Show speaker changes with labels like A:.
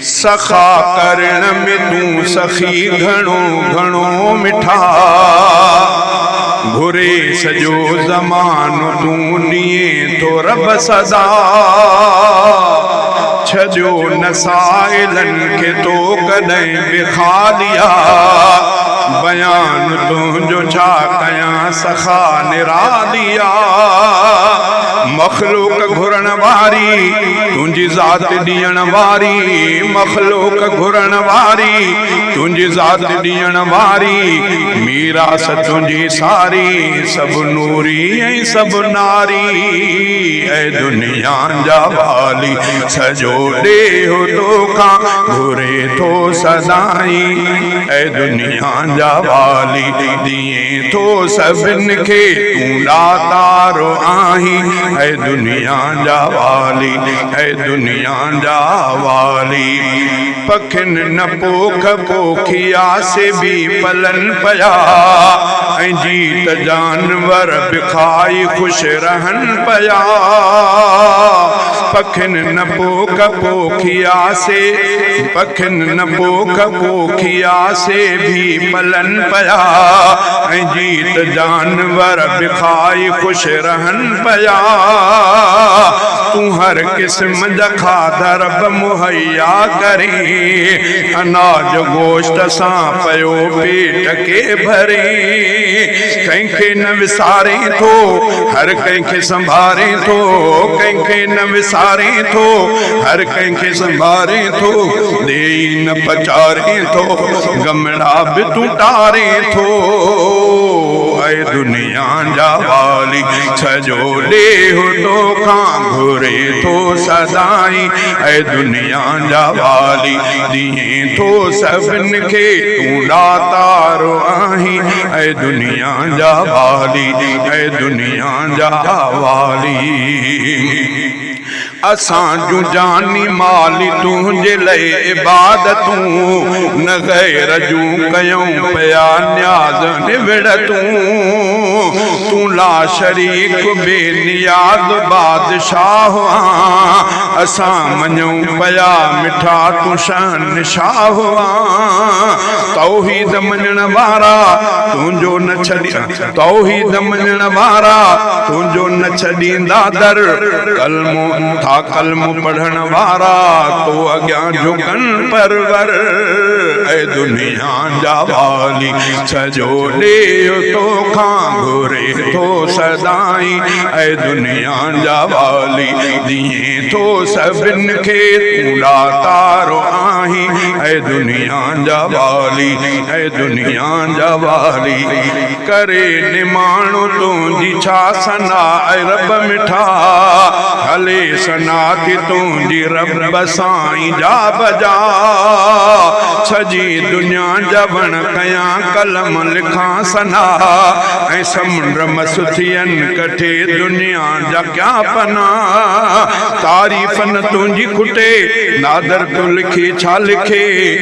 A: سخا ڪرڻ ۾ تون سخي گهڻو گهڻو مٺا گهري سڄو زمانو تون ڏئين ٿو رب سزا ڇڏيو نه سائلن کي تو ڪڏهن به خاليا بيان تنهنجو ڇا ڪيان سخا نراليا مخلوق گهرڻ واري تنهنجي ذات ڏيڻ واري مخلوق گهرڻ واري تنهنجي ذات ڏيڻ واري ميراث تنهنجي ساري سڀ نوري ۽ سڀ ناري اي دنيا جا والي سڄو ڏيهو توکان گهري ٿو سدائين اي دنيا جا والي ڪيئن ٿو سڀن کي تون ڏاتارو آهين اي دنيا جا والي اي دنيا جا والي پکين نه پوک پوکيا سي به پلن پيا ۽ جيت جانور به کائي خوش رهن پيا پکين نه پوک پوکيا سي پکين نه پوک پوکيا سي به پلن پيا ۽ جيت جانور به کائي خوش رهن پيا تون هر قسم جا کاڌا رب مهيا ڪرين اناج گوشت سان پيو پيٽ ڪي ڀرين ڪنهن کي نه وسارين ٿو هر ڪنهن کي سنڀارين ٿو ڪنهن کي نه وسارين ٿو هر ڪنهن کي سنڀارين ٿو ڏيئي نه پچارين ٿو گمڙا به تون ٽارين ٿو اي دنيا جا والي سڄو ڏيهه تو کان گهري ٿو سدائين اي دنيا جا والي ڏيئين ٿو سڀن کي تون ڏاتار آهين اي دنيا جا والي اي دنيا جا والي اسان جون جاني مالي تنهنجي لئي عبادتون نه غير جون ڪيون پيا نياز نوڙ تون تون لا شريڪ بي نياز بادشاهه آن اسان مڃون پيا مٺا تون شهنشاهه آن توحيد مڃڻ وارا تنهنجو نه ڇڏيا توحيد نه مڃڻ وارا تنهنجو نه ڇڏيندا در ڪلمو ٿا ڪلمو پڙهڻ وارا تو اڳيان جهڪن پرور اي دنيا جا والي سڄو ڏيهه تو کان گهري ٿو سدائين اي دنيا جا والي ديئين ٿو سڀن کي تون ڏاتارو آهين اي دنيا جا والي اي دنيا آنجا واري ڪري نماڻو تنهنجي ڇا ثنا اي رب مٺا هلي ثنا ٿي تنهنجي رب سائين جا بجا سڄي دنيا جا وڻ ڪيان قلم لکان ثنا ۽ سمنڊ مس ٿين ڪٺي دنيا جا ڪيا پنا تعريف نه تنهنجي کٽي نادر تون لکي ڇا لکي